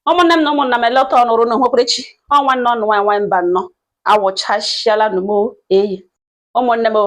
ụmụnne m na ụmụnna m eleta ọnụ rị na nhwekwerechi ọ nwanne ọnụ nwaanyị nwa Mbanọ awụchasịala numo eyi ụmụnne m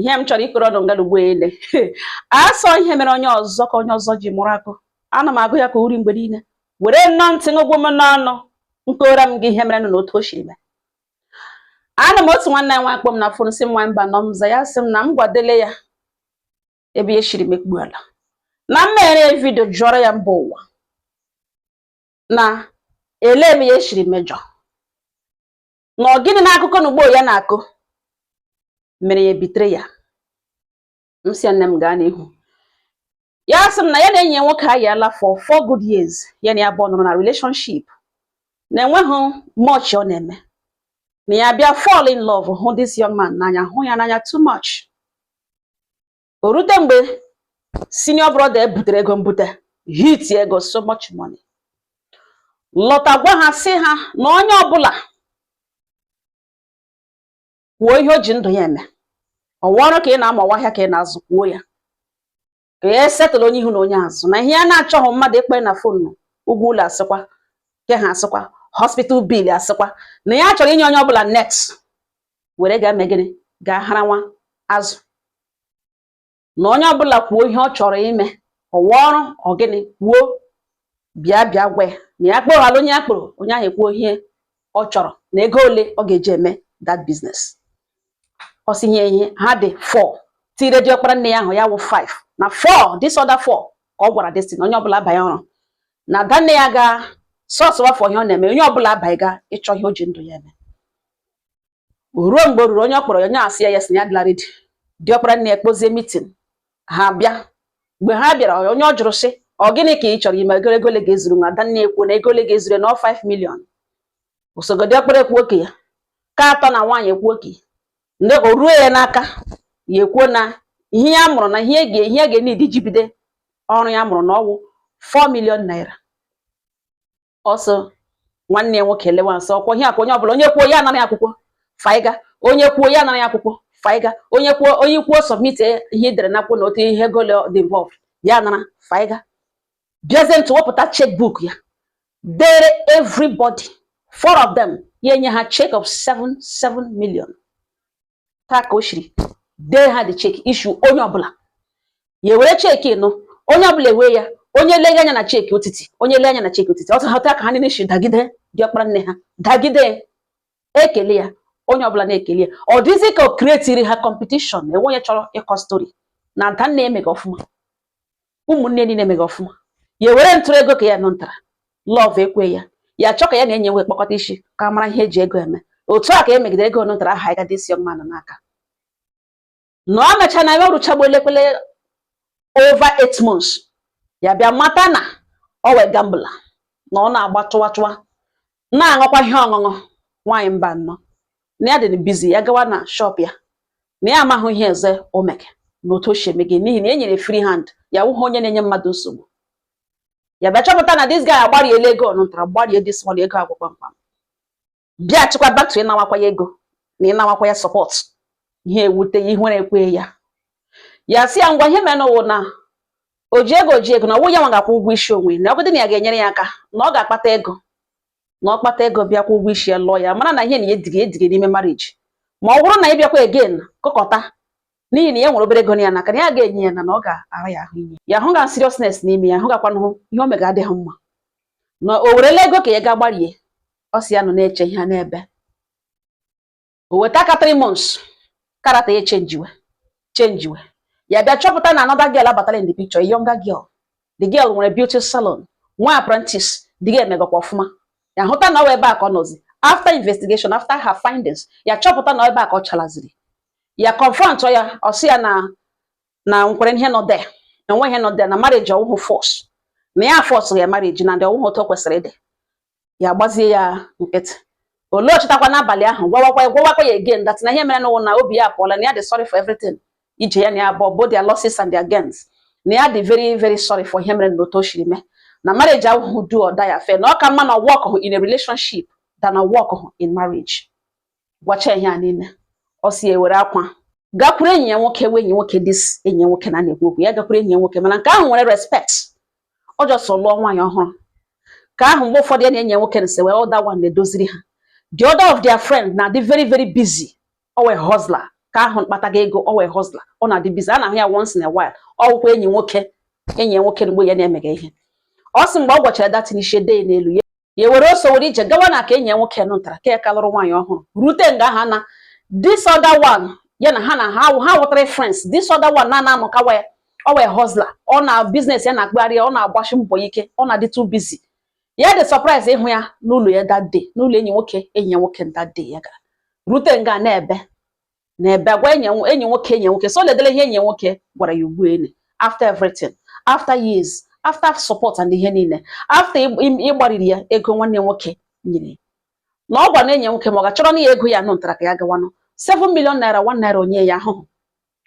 ihe m chọrọ ịkọrọ ọnụ nga n'ugbo ele a sị ihe mere onye ọzọ ka onye ọzọ ji mụrụ akọ ana m agụ ya ka uri mgbe niile were nnọọ ntị ṅụgwụ m n'ọnụ nkora m gị ihe mere nụ n'otu o si mee anọ m otu nwanne nwa akpọ m na fon sị nwa Mbanọ m za ya sị m na m gwadele ya ebe ihe siri mekpu ala na m mere vidio jụọrọ ya mba ụwa na ele ebe ihe siri mejọ na ọ gịnị n'akụkọ na ugbo ya na-akụ mere ya ebitere ya m sị nne m gaa n'ihu ya sị m na ya na enyi nwoke ayaala for four good years ya na ya bụ nọrọ na relationship na enweghị much ọ na-eme na ya bịa fall in love hụ this young man n'anya hụ ya n'anya too much o rute mgbe senior brother ya butere ego mbute hit ego so much money lọta gwa ha sị ha na onye ọbụla kwuo ihe o ji ndụ ya eme ọ wụ ọrụ ka ị na-amụ ọ wụ ahịa ka ị na-azụ kwuo ya ka ya settle onye ihu na onye azụ na ihe ya na-achọghị mmadụ ịkpọ ya na fon ụgwọ ụlọ asịkwa nke ha asịkwa hospital bill asịkwa na ya chọrọ inye onye ọbụla net were gaa mee gịnị gaa hara nwa azụ na onye ọbụla kwuo ihe ọ chọrọ ime ọ wụ ọrụ ọ gịnị kwuo bịa bịa gwa ya na ya kpọghala onye ya kpọrọ onye ahụ ekwuo ihe ọ chọrọ na ego ole ọ ga-eji eme that business ọ sị ihe ha dị four tire diọkpara nne ya ahụ ya wụ five na four this other four ka ọ gwara this thing onye ọbụla abanye ọrụ na ada nne ya ga sọsụwa fọ ihe ọ na-eme onye ọbụla abanye gaa ịchọ ihe o ji ndụ ya eme ruo mgbe o ruru onye ọ kpọrọ ya onye asị ya yes na ya dịla redi diọkpara nne ya kpozie mitin ha bịa mgbe ha bịara ọ- onye ọ jụrụ sị ọ gịnị ka ị chọrọ ime ego ego ole ga-ezuru nwa ada nne ekwuo na ego ole ga-ezuru ya na ọ 5 milion osogo diọkpara ekwuo nke ya nke atọ na nwaanyị ekwuo nke ya ndị o ruo ya n'aka ya ekwuo na ihe ya mụrụ na ihe ya ga-eneed iji bide ọrụ ya mụrụ na ọwụ 4 milion naira ọ sị nwanne ya nwoke elewa nsọ ọkwọ ihe akwa onye ọbụla onye kwuo ya anara ya akwụkwọ faiga onye kwuo ya anara ya akwụkwọ faiga onye kwuo onye kwuo submit e, ihe e dere n'akwụkwọ na otu ihe ego ole dị involved ya nara faiga bịazie ntụ wepụta checkbook ya dere everybody four of them ya enye ha check of 7 7 million otu a ka o siri dee ha the cheki issue onye ọbụla ya ewere cheki nụ onye ọbụla ewee ya onye lee anya na cheki otiti onye lee anya na cheki otiti otu a ka ha niile si dagide diọkpara nne ha dagide ekele ya onye ọbụla na-ekele ya ọ dịzi ka o kretiri ha kọmpetishọn enweghị onye chọrọ ịkọ stori na ada nne emeghị ọfụma ụmụnne niile emeghị ọfụma ya ewere ntụrụ ego ka ya nọ ntara love ekwe ya ya chọọ ka ya na enye nwe kpọkọta isi ka a mara ihe eji ego eme otu a ka e megidere ego nụtara ahanyịga this young man n'aka na ọ mecha na ya ọrụchagbu elekwele over eight months ya bịa mata na ọ wụ a gambler na ọ na-agba tụwa tụwa na-aṅụkwa ihe ọṅụṅụ nwaanyị mba nnọọ na ya dị busy ya gawa na shop ya na ya amaghị ihe eze omeke na otu o si eme gị n'ihi na e nyere free hand ya wụghị onye na-enye mmadụ nsogbu ya bịa chọpụta na this guy agbariela ego ọ nụntara gbarie this one ego agwụ kpamkpam bịachikwa back to ịnawakwa ya ego na ịnawakwa ya support ihe ewute ya ihu na-ekwe ya ya sị ya ngwa ihe merenụ wụ na o ji ego o ji ego na ọ wụ ya nwa ga-akwụ ụgwọ isi onwe na ọgụdị na ya ga-enyere ya aka na ọ ga-akpata ego na ọ kpata ego bịa kwụọ ụgwọ isi ya lụọ ya mara na ihe na ya edighị edighị n'ime marriage ma ọ bụrụ na ị bịakwa again kpọkọta n'ihi na ya nwere obere ego nọ ya n'aka na ya ga-enye ya na na ọ ga-ara ya ahụ inye ya hụ ga seriousness n'ime ya hụ gakwanụ ihe o mega adịghị mma na o werela ego ka ya ga gbarie ọ sị ya nọ na-eche ihe n'ebe o weta ka three months karata ya chenjiwe chenjiwe ya bịa chọpụta na another girl abatara in the picture a younger girl the girl nwere beauty salon nwee apprentice the girl emegakwa ọfụma ya hụta na ọ wụ ebe a ka ọ nọzi after investigation after her findings ya chọpụta na ebe a ka ọ chalaziri ya confront ya ọ sị ya na na nkwere ihe nọ there na enwe ihe nọ there na marriage awụhụ force na ya force ya marriage na ndị ọ wụhụ otu o kwesịrị ịdị ya agbazie ya nkịtị olee ọ chịtakwa n'abalị ahụ gwawakwa ya gwawakwa ya again that na ihe merenụ wụ na obi ya apụọla na ya dị sorry for everything ije ya na ya abụọ both their losses and their gains na ya dị very very sorry for ihe mere na otu o siri mee na marriage awụhụ do or die affair na ọ ka mma na ọ workhụ in a relationship than na ọ workhụ in marriage gwacha ihe a niile ọ sị ya ewere akwa gakwuru enyi ya nwoke wee enyi nwoke this enyi nwoke na na-ekwu okwu ya gakwuru enyi ya nwoke mana nke ahụ nwere respect ọ just lụọ nwaanyị ọhụrụ ka ahụ mgbe ụfọdụ ya na enyi ya nwoke na sewe other one na-edoziri ha the other of their friend na-adị very very busy ọ wụ a hustler ka ahụ kpataga ego ọ wụ a hustler ọ na-adị busy a na-ahụ ya once in a while ọ wụkwa enyi nwoke enyi ya nwoke mgbe ya na-emega ihe ọ sị mgbe ọ gwachara that thing ishe dee n'elu ya ya were ọsọ were ije gawa na ka enyi ya nwoke nụ ntara ka ya ka lụrụ nwaanyị ọhụrụ rute nga ha na this other one ya na ha na ha ha wụtara friends this other one na na-anọ kawa ya ọ wụ a hustler ọ na business ya na-akpagharị ya ọ na-agbashi mbọ ike ọ na-adị too busy ya dị surprise ịhụ ya n'ụlọ ya that day n'ụlọ enyi nwoke enyi ya nwoke that day ya gara rute nga na-ebe na ebe agwa enyi enyi nwoke enyi nwoke so ledele ihe enyi nwoke gwara ya ugbu ene after everything after years after support and ihe niile after ị- ị- ịgbariri ya ego nwanne nwoke nyere ya. na ọ gwa na enyi nwoke ma ọ ga-achọrọ na ya ego ya nụ ntara ka ya gawanụ 7 million naira 1 naira anya ya ahụhụ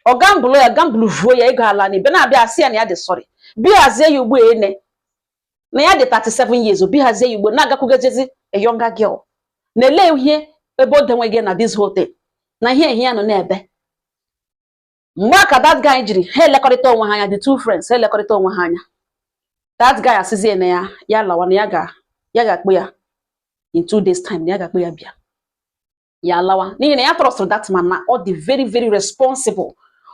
ọ gambụlụ ya gambụlụ vuo ya ego ala na ibe na-abịa asị ya na ya dị sorry bịa hazie ya ugbu ene na ya dị 37 years ọ bịa hazie ya ugbu a na-agakwugejezi a younger girl na-ele ihe ebe o denwe gị na this whole thing na ihe ehi ya nọ na-ebe mgbe a ka that guy jiri ha elekọrịta onwe ha anya the two friends ha elekọrịta onwe ha anya that guy asịzie na ya ya lawa na ya ga-akpọ ya in two days time na ya ga-akpọ ya bịa ya alawa n'ihi na ya trọstụrụ that man na ọ dị very very responsible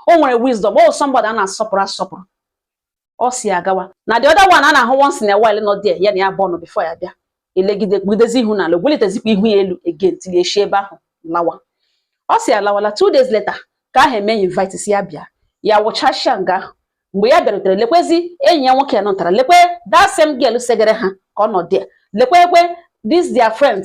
o nwere wisdom ọ somebody a na-asọpụrụ asọpụrụ ọ si agawa na the other one a na-ahụ once in a while nọ there ya na ya bụ ọnụ before ya bịa elegide kpugidezi ihu n'ala o welitezikwa ihu ya elu again tinye eshi ebe ahụ lawa ọ si alawala two days later ke ahụ emee invite sị ya bịa ya wụchachia nga ahụ mgbe ya bịarutere lekwezi enyi ya nwoke nọ nọtara lekwe that same girl segere ha ka ọ nọ there lekwekwe this their friend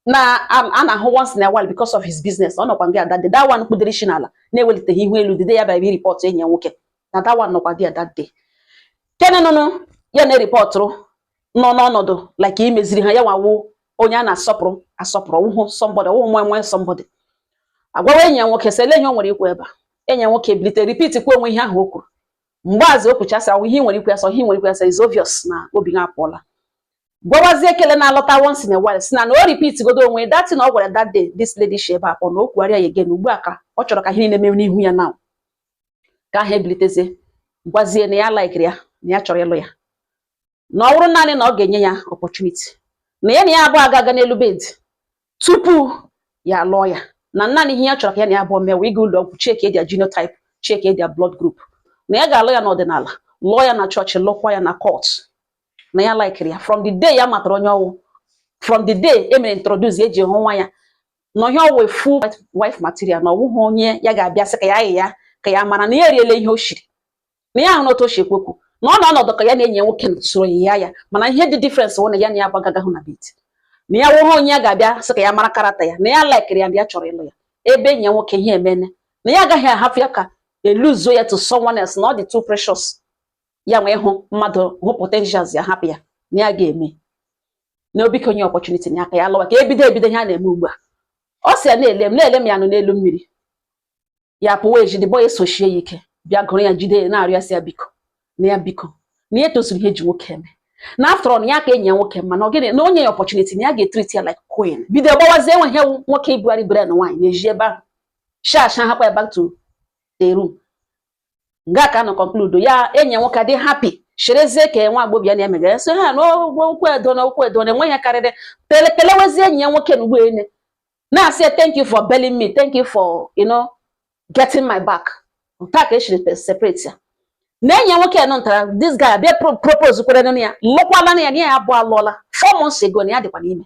na a na-ahụ once in a while because of his business ọ nọkwa nga that day that one kpudere isi n'ala na-eweliteghị ihu elu the day ya bịara bịa ripọtụ enyi ya nwoke na that one nọkwa nga that day kenenụnụ ya na-eripọtụrụ nọ n'ọnọdụ like imeziri ha ya nwa wụ onye a na-asọpụrụ asọpụrụ wụhụ somebody wụhụ nwe nwe somebody agwawa enyi ya nwoke sị ele ihe o nwere ikwu ebe a enyi ya nwoke ebilite repeat kwuo onwe ihe ahụ o kwuru mgbe azụ o kwuchasị ahụ ihe nwere ikwu ya sọ ihe nwere ikwu ya sọ is obvious na obi ha apụọla gwawazie kele na-alọta once in a while sị na na ọ repeat godo onwe that thing ọ gwara that day this lady shi ebe a pụọ na o kwugharịa ya again ugbu a ka ọ chọrọ ka ihe niile mee n'ihu ya now ke ahụ ebilitezie gwazie na ya laikiri ya na ya chọrọ ịlụ ya na ọ bụrụ naanị na ọ ga-enye ya opportunity na ya na ya abụọ aga-aga n'elu bed tupu ya lụọ ya na naanị ihe ya chọrọ ka ya na ya abụọ mee wụ ịga ụlọ ọgwụ chekie their genotype chekie their blood group na ya ga-alụ ya n'ọdịnala lụọ ya na chọọchị lụkwa ya na court na ya laikiri ya from the day ya matara onye ọ wụ from the day e mere introduce eji hụ nwa ya na ihe ọ wụ a full wife material na ọ wụghị onye ya ga-abịa sị ka ya ayị ya ka ya mara na ya eriela ihe o shiri na ya ahụrụ otu o si ekwekwu na ọ nọ ọnọdụ ka ya na-enye nwoke soro ya ya mana ihe dị difference wụ na ya na ya agbagagahụ na bed na ya wụhụ onye ya ga-abịa sị ka ya mara character ya na ya laikiri ya na ya chọrọ ịlụ ya ebe enyi ya nwoke ihe emene na ya agaghị ahapụ ya ka e luzuo ya to someone else na ọ dị too precious ya wee hụ mmadụ hụ potentials ya hapụ ya na ya ga-eme na obike onye opportunity na aka ya lụwa ka ebido ebido ihe a na-eme ugbu a ọ si ya na-ele m na-ele m ya nọ n'elu mmiri ya pụwa ezi the boy a esochie ya ike bịa gụrụ ya jide ya na-arịọ ya biko na ya biko na ya etozuru ihe e ji nwoke eme na after all ya ka enyi ya nwoke mma na ogene na o nye ya opportunity na ya ga-etreat ya like queen bido gbawazie enwe ihe nwoke ibugharị brain nwaanyị na-eji ebe ahụ sharp sharp hapụ ya back to the room nga ka a nọ conclude ya enyi ya nwoke dị happy cherezie ka nwa agbọghọ ya na-emegara so ha na ụgwọ ụkwụ edo na ụkwụ edo na enweghị karịrị kele kelewezie enyi ya nwoke na ugboele na-asị thank you for bailing me thank you for you know getting my back nta ka e siri separate ya na enyi ya nwoke nọ ntara this guy abịa propose kwere nụ ya lụkwala na ya na ya abụọ alụọla four months ago na ya dịkwa n'ime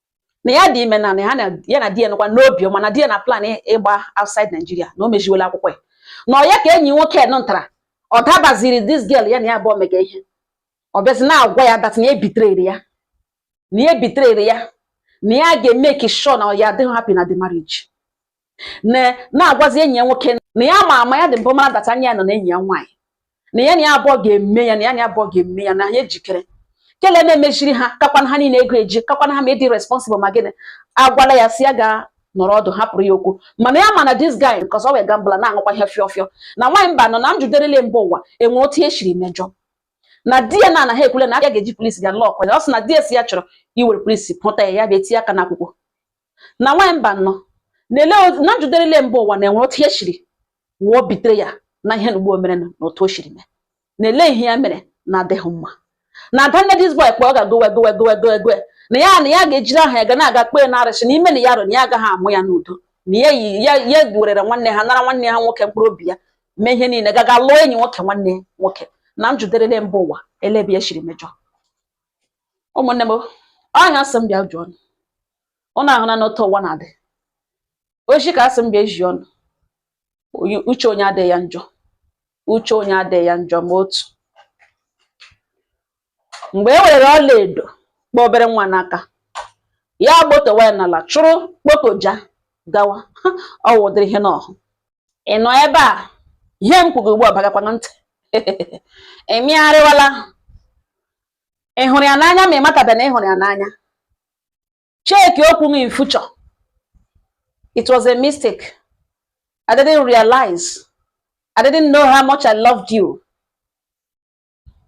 na ya dị ime na na ya na ya na di ya nọkwa n'obi ọma na di ya na-aplan ị- ịgba outside Nigeria na o meziwela akwụkwọ ya na ọ ya ka enyi nwoke nọ ntara ọ dabaziri this girl ya na ya abụọ mega ihe ọ bịazi na-agwa ya that na ya betrayrị ya na ya betrayrị ya na ya ga-emake sure na ya adịghị happy na the marriage na-agwazi enyi ya nwoke na ya ma ama ya dị mbụ mara that anya ya nọ na enyi ya nwaanyị na ya na ya abụọ ga-eme ya na ya na ya abụọ ga-eme ya na ha ejikere kele na-emechiri ha kakwana ha niile ego eji kakwana ha ma ịdị responsible ma gịnị agwala ya sị ya ga nọrọ ọdụ hapụrụ ya okwu mana ya mana this guy because ọ wụ gambler na-aṅụkwa ihe fịọ fịọ na nwaanyị mbano na njụderele mba ụwa enwe otu e siri mejọ na di ya na anaghị ekwule na a ga-eji polisi ga lock ya ọ sị na di ya sị ya chọrọ iwere polisi pụta ya ya bịa etinye aka n'akwụkwọ na nwaanyị mbano na-ele na njụderele mba ụwa na-enwere otu ya siri wee betray ya na ihe na ugbo mere na otu o siri mee na-ele ihe ya mere na adịghị mma na ada nne this boy kpọ ọ ga-gowe gowe gowe gowe gowe na ya na ya ga-ejiri aha ya ga na-aga kpee na arụsị na ime na ya rụ na ya agaghị amụ ya n'udo na ya yi ya ya werere nwanne ha nara nwanne ha nwoke mkpụrụ obi ya mee ihe niile gaga lụọ enyi nwoke nwanne ya nwoke na njụderele mba ụwa olee ebe ya siri mejọ ụmụnne m ọ nya sị m bịa jụọ ụnụ ahụnanụ otu ụwa na-adị ozi ka a sị m bịa ezi ụnụ uche onye adịghị ya njọ uche onye adịghị ya njọ ma otu mgbe e were ọlaedo kpọ obere nwa n'aka ya gbotowa ya n'ala chụrụ kpotoja gawa ọ wụ ụdịrị ihe n'ọhụ ị nọ ebe a ihe m kwugo ugbu a bagakwa na ntị ị megharịwala ị hụrụ ya n'anya ma ị matabe na ị hụrụ ya n'anya cheki okwu m in future it was a mistake I didn't realize I didn't know how much I loved you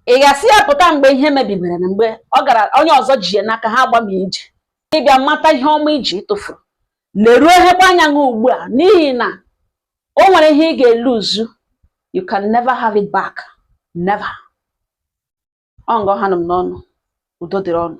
ị ga-asị ya pụta mgbe ihe mebibere na mgbe ọ gara onye ọzọ ji ya n'aka ha agbami ije ị bịa mata ihe ọma i ji tufuo leruo ehekwa anya gị ugbu a n'ihi na o nwere ihe ị ga-elose you can never have it back never ọ nga ọ ha nụ m n'ọnụ udo dịrị unu